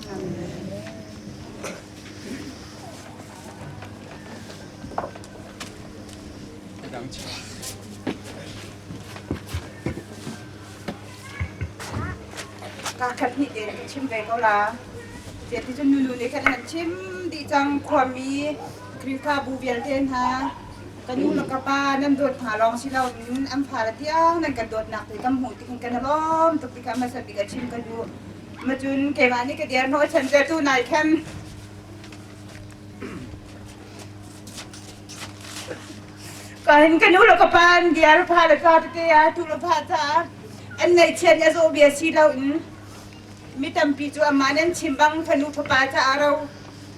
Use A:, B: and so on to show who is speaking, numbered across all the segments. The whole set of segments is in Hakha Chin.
A: Ka khat hnih te chim ve ko la. Ti ti cun nunu nih khan han chim di cang khuami Khrihfabu vialte hna ka nu le ka pa nan dawt hna lawng si lo in an fara tiang nan kan dawtnak te kan hmuh ti khan kan lawm tuk ti kha hmasa bik a chim ka nu macun keimah nih ka dirhnawh chantertu nai khen kain kanu lo ka pan diar pha la ka te a tu la pha ta an nei chian ya zo bia si lo in mi tampi chu amma nan chim bang fanu fapa ta aro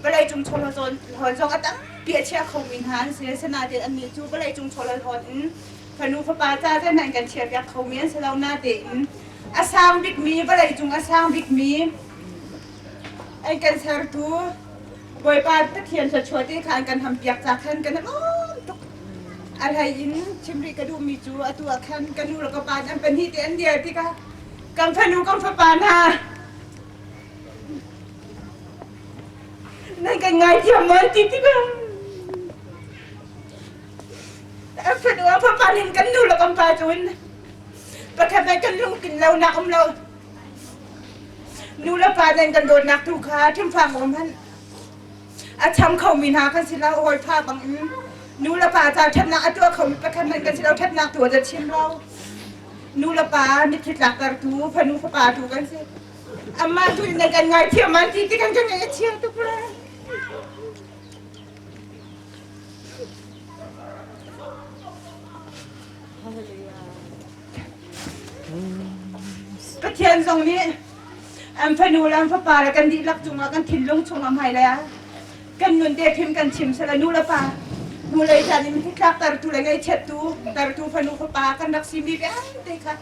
A: balai chung chol zon hon zong atam pi a chia kho min han se sana te an ni chu balai chung chol hon in fanu fapa ca can nan kan chiarpiak kho mi an si lo na tein a sang bikmi vawlei cung a sang bikmi ei kan sertu Bawipa Pathian thluachuah te khan kan hampiak ca khan kan lawm tuk a hlei in chimri ka duhmi cu atu ah khan ka nu le ka pa an pahnih te an dir tikah kan fanu kan fapa hna nan kan ngaithiam mawn ti ti bang Fanu papa in kan nu le kan pa cu in pakhat nih kan lungtlin lo nak um lo. Nu le pa nih kan dawtnak tu kha ṭhimfang um hman. A cham kho mi hna kan si lo hawi pha bang in nu le pa ca ṭhatnak a tuah kho mi pakhat nih kan si lo ṭhatnak tu a za chim lo. Nu le pa mitthli tlakter tu fanu fapa tu kan si. Amma tu in kan ngaithiam an ti tikan kan ngaithiam tu pula. Pathian zong nih an fanu le an fapa le kan dihlak cungah kan thinlung chungah hmai le kan nun te phim kan chim sela nu le pa nu lei chan in hi tlak tertu le ngaichiattu tertu fanu fapa kan rak si mi vialte kha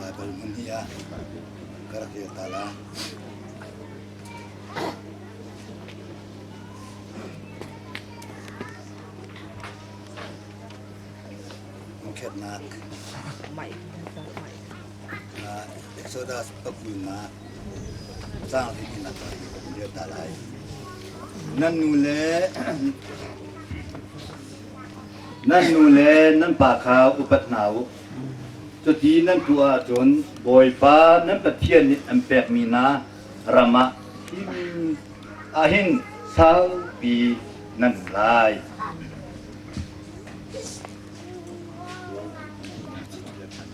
A: Baibal hmun hi a ka rak kir ta la. Mukhernak. Mai. Mai. Exodus pakhun ah tlangtlin in a kai kan dir hna lai. Nan nu le nan nu le nan pa kha upat hna u. Cuti nan tuah ahcun Bawipa nan Pathian nih an pekmi hna ram ah hin ahin saupi nan um lai.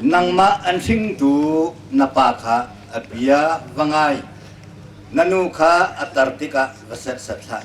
A: Nangmah an hringtu na pa kha a bia va ngai, na nu kha a tar tikah va setset hlah.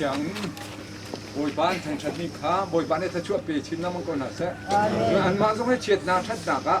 A: thiang Bawipa an thangṭhat mi kha Bawipa nih thachuah pe chin na mong ko hna seh an mah zong he chiatnak ṭhatnak ah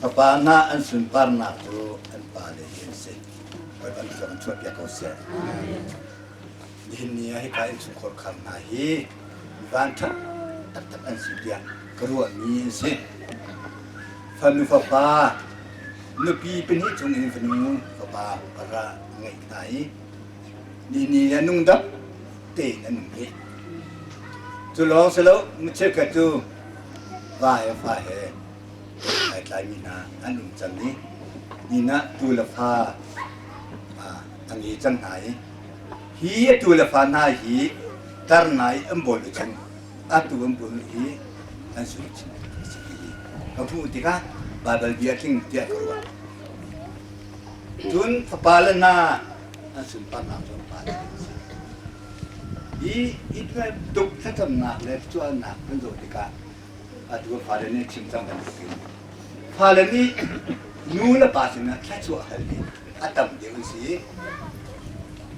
A: Fapa hna an sunparnak cu an pale hi an si. Bawi kan zong chuahpiak ko seh. Nihin ni ah hipa innchungkhar khar hna hi vanṭhat taktak an si tiah ka ruahmi an si. Fanu fapa, nupi pahnih chung in fanu fapa para ngeih hna i nihni a nung dap tein an um hi. Cu lawng si lo, mi cheukhat cu va he fa he ai tlaimi hna an um cang i inn ah tuu le fa an i cang hna i hi a tuu le fa hna hi tar ngai an bawl u cang a tuu an bawl hi an sui chin a si i ka hmuh tikah Baibal bia tling tiah ka ruah cun fapa le hna an sunparnak cu an pa le a si i itual tuk thlacamnak le tuahnak kan zawh tikah atu fale nih chim cang bantukin fale nih nu le pa sinah thluachuah hal hi a tam deuh an si i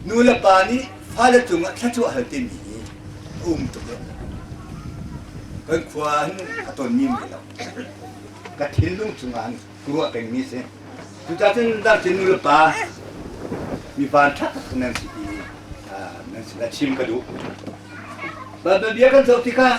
A: nu le pa nih fale cungah thluachuah hal timi hi a um tuk deuh kan khua hin a tonmi mai lo ka thinlung chungah ka ruah pengmi si cucacun darcin nu le pa mipa ṭha tak nan si i nan sinah chim ka duh Babel bia kan zoh tikah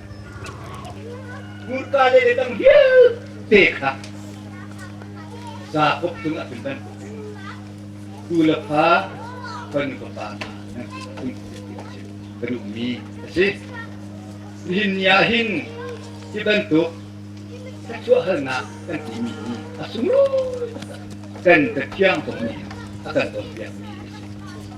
A: Hmurka le dang vialte kha Jakob cung ah cun kan tu le fa kan nu fapa hna an si kun ti a si kan ummi a si. Nihin ni ah hin hi bantuk thluachuah halnak kan timi hi a sunglawi kan Pathian kong nih a kan cawnpiakmi a si.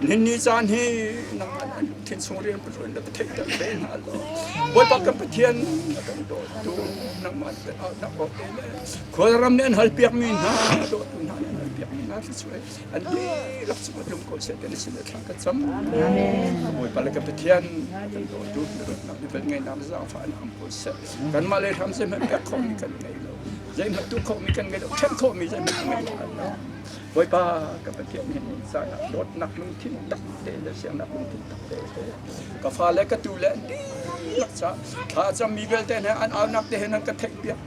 A: Ninni caan hi nang an thin chung rian pathuan na ka theih te hna lo. Bawipa kan Pathian na kan dawtu nangmah na awt te le khualram nih an hal piak mi hna dawtu hna nih an hal piak mi hna si chu an di rak chu tlung ko se kan sin thlang ka cham. Bawipa le kan Pathian kan dawtu na ratnak mi vel ngai nam zafa an am ko se kan mah le ram zai hmet pek khom mi kan ngei lo zai hmet tu khom mi kan ngei lo then khom mi zai hmet ngei lo Bawipa ka Pathian hi zangah dawtnak lungthin tak te le siangnak lungthin tak te ka fa le ka tu le an dihlak sa thla cam mi vialte ne an aunak te he nan ka theih piak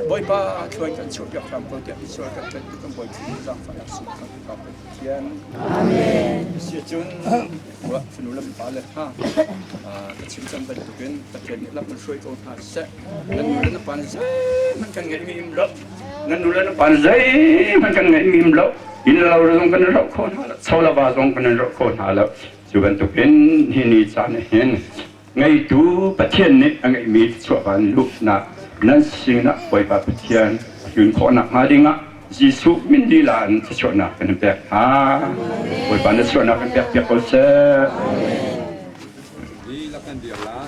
A: Bawipa thluan kan chuh piak hram ko tiah Israel kan tat kan boi thi zang fa su kan ka Pathian amen si cun wa funu lam pa le ha ka chim cam bantukin Pathian nih lam hruai ko hna seh nan nu le na pa ne zeman kan ngei mi im ram Nan nu le na pa zeihmanh kan ngeih mim lo. Innlo zong kan roh kho hna lo. Cholava zong kan roh kho hna lo. Cu bantuk in hi ni caan hin ngeitu Pathian nih a ngeihmi chuahvan luhnak nan sinah Bawipa Pathian hlun khawhnak hnga dingah Jesuh min lila in thluachuahnak kan in pek hna. Bawipa na chuahnak kan pek piak ko seh. Lila kan dir la,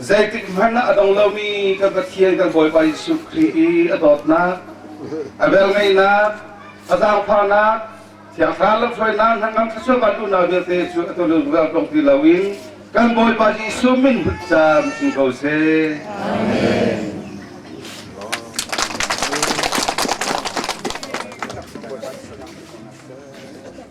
A: Zeitikhmanh ah a dong lomi kan Pathian kan Bawipa Jesuh Khrih i a dawtnak, a velngeihnak, a zaangfahnak, thiangthlarau lamhruainak hnangam thluachuahvan unau vialte cu a tululrual tong ti loin kan Bawipa Jesuh min hut caan sung ko seh. Amen.